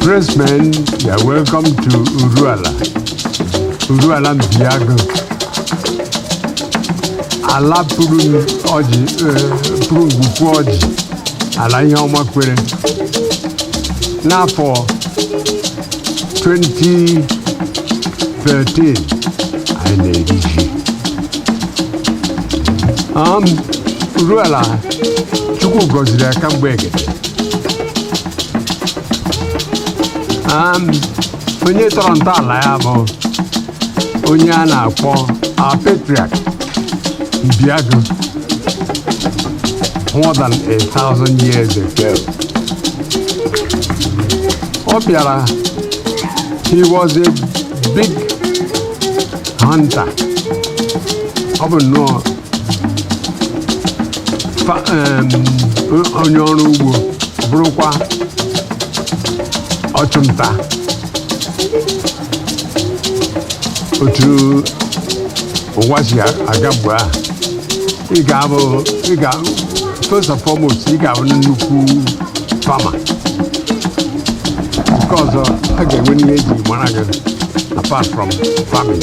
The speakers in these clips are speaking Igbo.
Press men, you are welcome to Uruala. Uruala Mbiago. Ala pụrụ ọjị, eh, pụrụ ngwukwu ọjị, ala ihe ọma kwere. N'afọ 2013, anyị na-eri ji. Um, Uruala, Chukwu gọziri ya kamgbe egede. Um, onye tọrọ ntọala ya bụ onye a na-akpọ our patriarch Mbiago more than a thousand years ago ọ bịara he was a big hunter ọ bụ nnọọ fa- em, onye ọrụ ugbo bụrụkwa ọchụnta otu ụwa si aga mgbe a ị ga-abụ ị ga first and foremost ị ga-abụ nnukwu farmer nke ọzọ a ga-enwe ihe eji mara gị apart from farming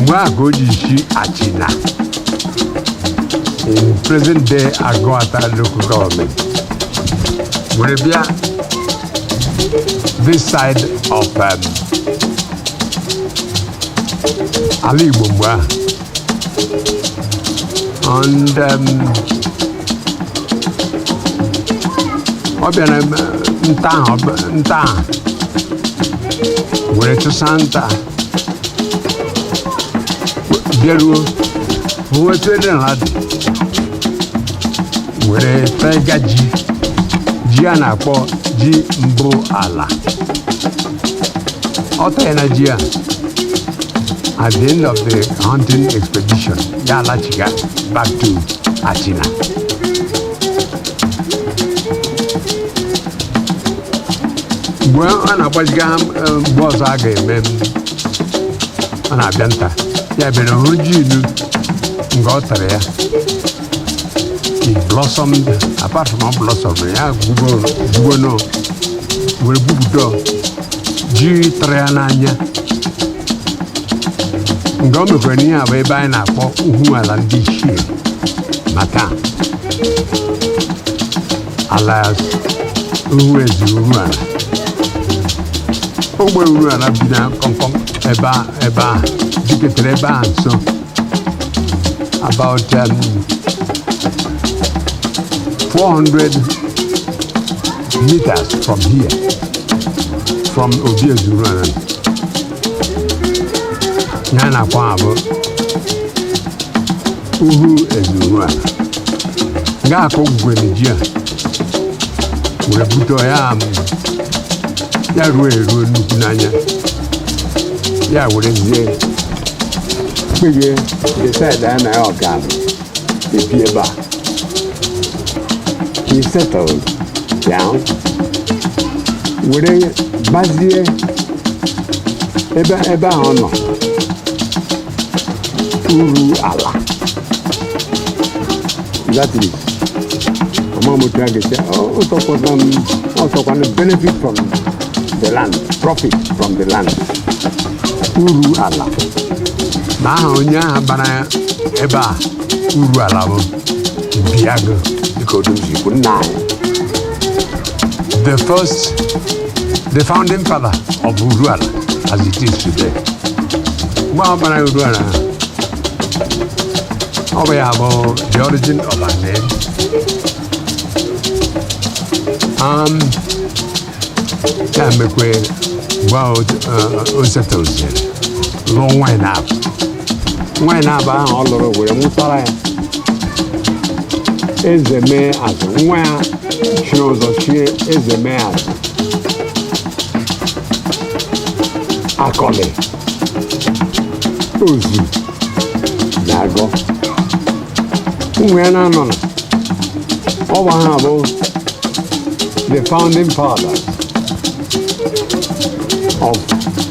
mgbe ahụ ka o ji si Achịna in present day agụata local government were bịa this side of um, ala igbo mgbe ahụ and um, ọ bịara m, eh, nta ahụ ọ bụ- nta ahụ were chụsa nta bịaruo owe etu ede ha dị were tega ji ji a na-akpọ ji mbụ ala o teena ji a at the end of the hunting expedition ya alachiga back to Achịna mgbe a na-agbaziga ha eh, mgbe ọzọ a ga-eme em, ọ na-abịa nta ya bịara hụ ji ilu nga o tere ya it blossomed apart from ọ blossom ya gwugo gwugonụ were gwupụta ji tụrụ ya n'anya nga o mekwaranụ ihe a bụ ebe anyị na-akpọ Uhuala ndị ichie maka alias uhu eze Uruala ogbe Uruala bi na kọmkọm ebe a ebe dịketere ebe a nso about um, 400 meters from here from obi eze Uruala ya na-akwa abụ uhu eze Uruala nga a kọ gwere ji a were bute ya amụ ya ruo eruo nnukwu n'anya ya were zie kpege decide-ịa na ya ga-ebi ebe a he settled down were bazie ebe ebe ahụ ọ nọ Uruala exactly ọma m otu a ga-esi ọsọkwana m ọsọkwana benefit from the land profit from the land uru ala na aha onye ahụ bara ya ebe a Uruala bụ biago dịka otu m si kwu nna anyị the first the founding father of Uruala as it is today. Mgbe ọ bara Uruala ahụ, ọ bụ ya bụ the origin of our name. Um, ya mekwe mgbe ahụ o settleziri lụọ nwaanyị naabọ nwaanyị naabọ ahụ ọ lụrụ were mụtara ya Ezemeazụ nwa ya chiri ụzọ chie Ezemeazụ Akọlị Ozu na Agọ ụmụ ya naanọ na ọ bụ ha bụ the founding fathers of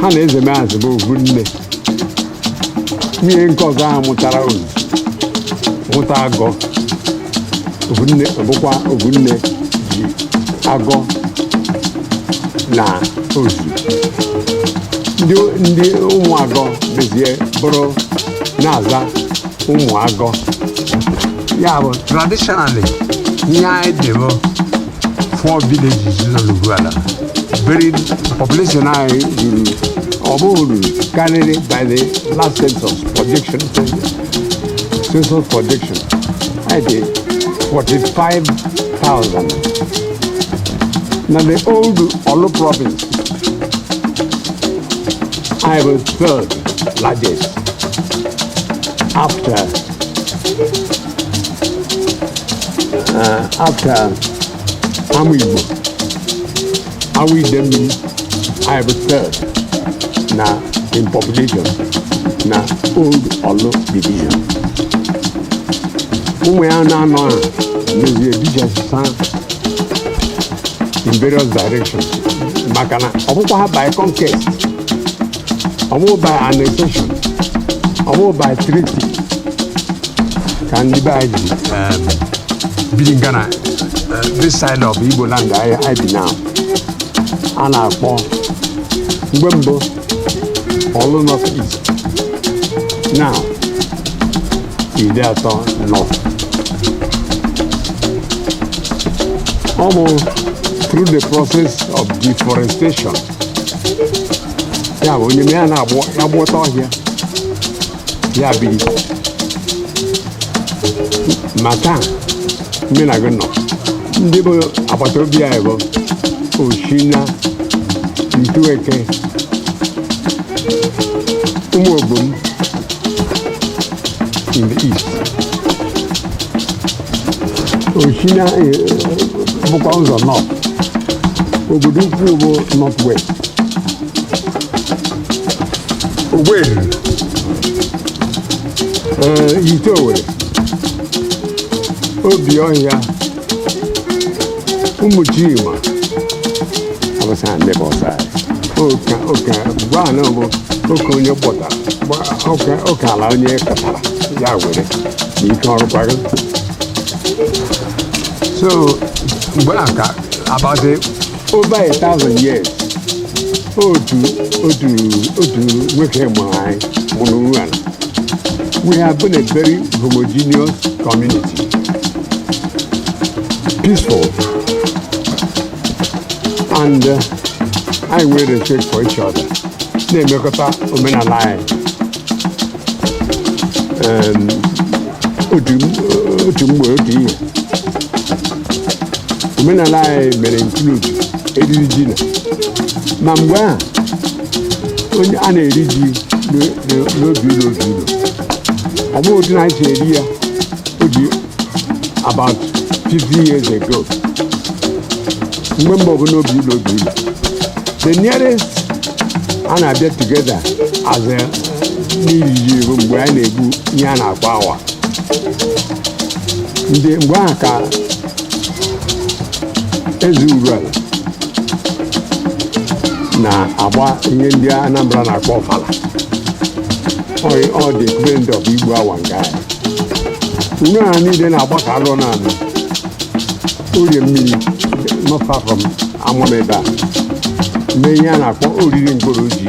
ha na Ezemeazụ bụ ovu nne nwunye nke ọzọ ahụ mụtara Ozu mụta Agọ ovu nne ọ bụkwa ovu nne ji Agọ na Ozu ndị ndị ụmụ Agọ bezie bụrụ na-aza Ụmụagọ ya bụ traditionally ihe anyị dị bụ four villages nọ n'Uruala beri population anyị ruru ọ bụghị karịrị by the last census projection census projection anyị dị 45,000 na the old Orlu province anyị wụ third largest after Ee, after Amaigbo Awo Idemmiri anyị bụ third na in population na old Orlu division ụmụ ya na-anọ a mezie dijasa in various directions maka na ọ bụkwa ha by conquest ọ bụ by annexation ọ bụ by treaty ka ndị be anyị ji um, biri nga na uh, this side of igbo land anyị anyị bi now a na-akpọ mgbe mbụ Orlu North East now Ideato North ọ bụ through the process of deforestation ya bụ onye ya na-agbụ ya gbụọta ọhịa ya biri ma taa mụ na gị nọ ndị bụ agbata obi anyị bụ Osina Ntueke Umuobom in the east Osina eh, bụkwa ụzọ north Obodoukwu bụ north west Owerri ee Ihite Owerri Obiohia Umuchima bụ south ndị bụ ọsa oke oke gwa na bụ oke onye kpọtara gba- oke oke ala onye kpọtara ya were n'ike ọrụ kwago so mgbe a ka about over a thousand years otu otu otu nwoke mụrụ anyị mụrụ Urualla we have been a very homogeneous community peaceful and uh, anyị nwere respect for each other na-emekọta omenala anyị otu mgbe otu ihe omenala anyị mere include iri ji na ma mgbe ahụ onye a na-eri ji n'obi ụlọ obi ụlọ ọ bụghị otu na anyị si eri ya o ji about 50 years ago mgbe mbụ ọ bụ n'obi ụlọ obi ụlọ the nearest a na-abịa together as a n'iriji bụ mgbe anyị na-egbu ihe a na-akpọ awa and mgbe ahụ ka Eze Urualla na-agba ihe ndị Anambra na-akpọ ọfala the equivalent of igbu awa nke anyị nne ha niile na-agbakọ alụ n'ala orie mmiri not far from ama m ebe a mee ihe a na-akpọ oriri mkpụrụ ji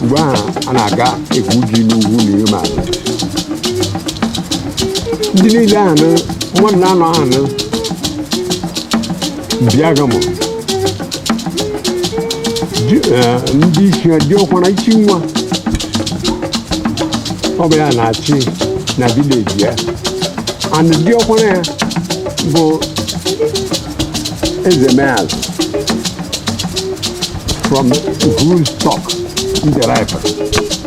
mgbe ahụ a na-aga egwu ji n'ugwu na ihe ma abịa ndị niile ahụ nụ mmadụ na-anọ ahụ nụ bịaga m Di- eh, ndị isi ha diọkwara isi nwa ọ bụ ya na-achị na village ya and diọkwara ya bụ Ezemeazị from whose stock I derive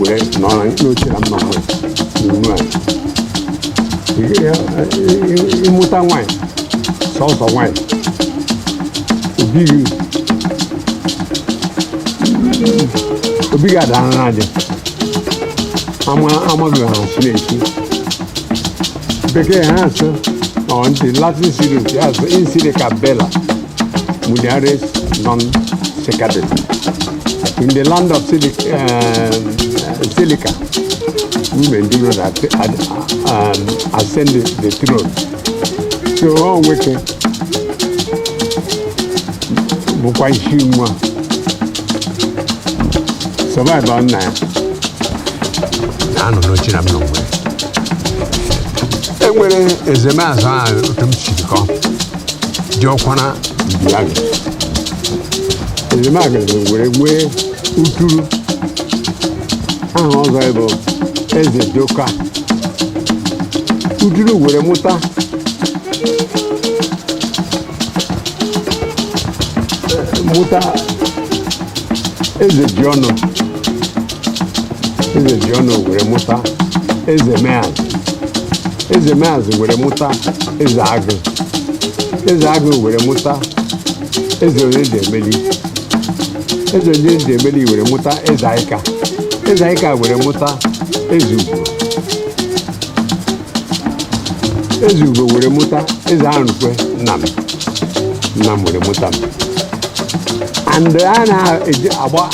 were nọ na n'oche na m nọ nwe n'unu a ịmụta nwaanyị sọsọ nwaanyị obi gị obi gị adara na adị ama amaghị ahụ si na-esi bekee ha asụ ọ ndị Latin series ya asụ in Silica bella Mulieres non succedant. In the land of Silica, uh, Silica women do not at, at, um, ascend the, the throne. So ọ nwoke bụkwa isi nwa survive-ụọ nna ya anọ n'oche na m nọ nwe e nwere Ezemeazị ahụ otu m si kọ diọkwara ndị agha Ezemeazị were nwee uturu aha ọzọ bụ eze joka uturu were mụta mụta eze ji ọnụ eze ji ọnụ were mụta eze meazị eze meazị were mụta eze agụ eze agụ were mụta eze onye ji emeli eze onye ji emeli were mụta eze aịka eze aịka were mụta eze ugo eze ugo were mụta eze Arukwe nna m nna m were mụta m and a na-eji agba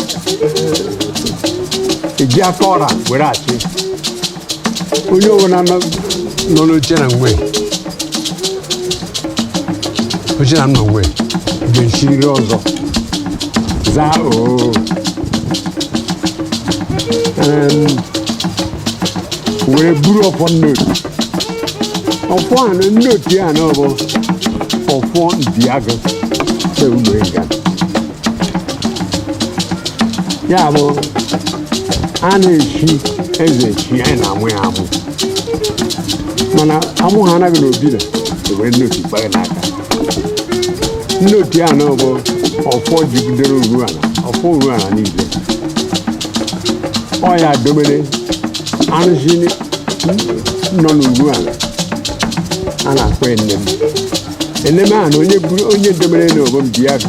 eji aka ọra were achị onye ọbụla nọ nọ n'oche na nwe oche na m nọ nwe ga-esiriri ọzọ zaa oo Em, were buru ọfọ nnotu ọfọ a na nnotu ya na ọ bụ ọfọ diago se ụlọ ịga ya bụ a na-echi eze echi a na-amụ ya amụ mana amụ ha anaghị n'obi na were nnotu gbanye n'aka nnotu ya na bụ ọfọ jigidere uruala ọfọ uruala niile ọ ya domere arụsị nọ n'uruala a na-akpọ eneme eneme a na onye buru- onye domere na obom diago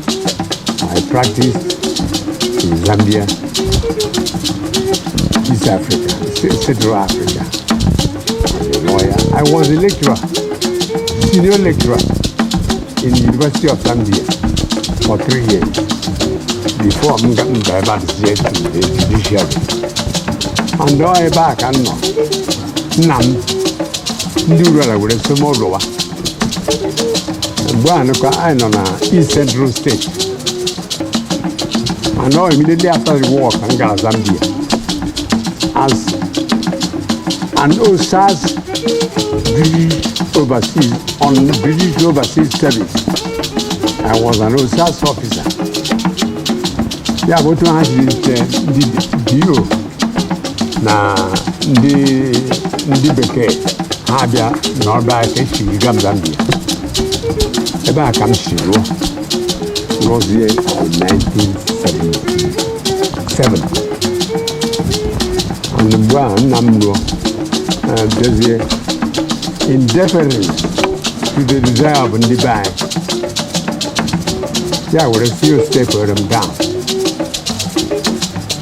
I practice in Zambia, East Africa, Ce- Central Africa. I'm a lawyer. I was a lecturer, senior lecturer in the University of Zambia for three years before m ga- m gara back to the judiciary. And ọ ebe a ka m nọ, nna m, ndị Uruala were sị m lọwa. ugbu a nụkwa anyị nọ na East Central State and now immediately after the war ka m gara Zambia as an OSAS British overseas on British overseas service I was an OSAS officer ya bụ otu ha jiri nke ndị DO na ndị ndị bekee ha abịa na ọba ka esi ga Zambia ebe a ka m si rụọ rụzie 1977 and mgbe a nna m rụọ eh, bịazie in deference to the desire of ndị be anyị ya were stepụrụ m down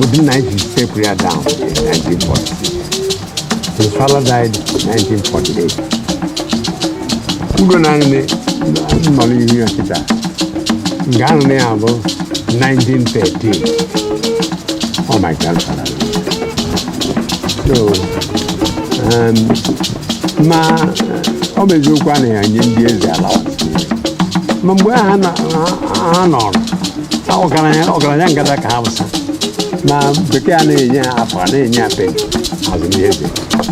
Otu nna ya ji step ya down in 1946. His father died in 1948. Ugo na nne nọ n'ihu ya kịta. Nke ahụ nna ya bụ 1913. Oh my grandfather. So, um, ma ọ bụ eziokwu a na-enye ndị eze allowance. Ma mgbe ha nọ- ha- ha nọrọ ọgaranya ọgaranya ngada ka ha wụsa na bekee a na-enye ha afụ a na-enye ha peni as ndị eze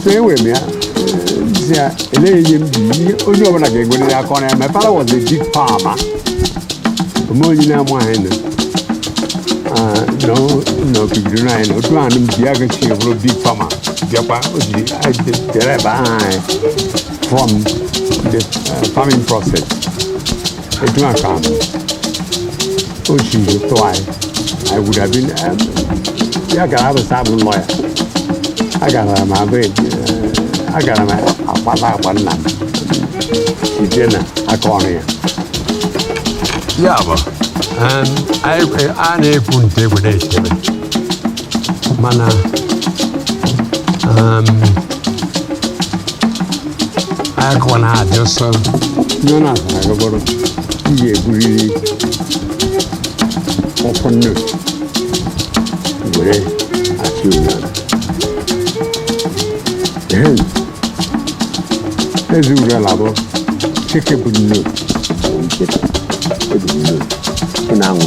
so enwere m ya si ya eleghị m ji ihe onye ọbụla ga-enwerịrị aka ọrụ ya my father was a big farmer ome onye na-amụ anyị na n'okigiri anyị na otu ahụ m ji ya gachi bụrụ big farmer bịakwa o ji jere ebe ahụ anyị from the uh, farming process Etu a ka o si tụ anyị. I would have been um, ya gara abụsa abụ lawyer. Agara m abụ eji eh, agara m akpata akpa nna m. Ije na aka ọrụ ya. Ya bụ um, anyị- a na-ekwu nte egwu na-echebe mana um, akụkọ na-adị ọsọ ndị ọ na-atara agagọrọ ị ga-eburiri ọkụ nne were achị ụlọ ehem ezi ụlọ labọ chike bụ nne nkịta ebu nne ị na-anwụ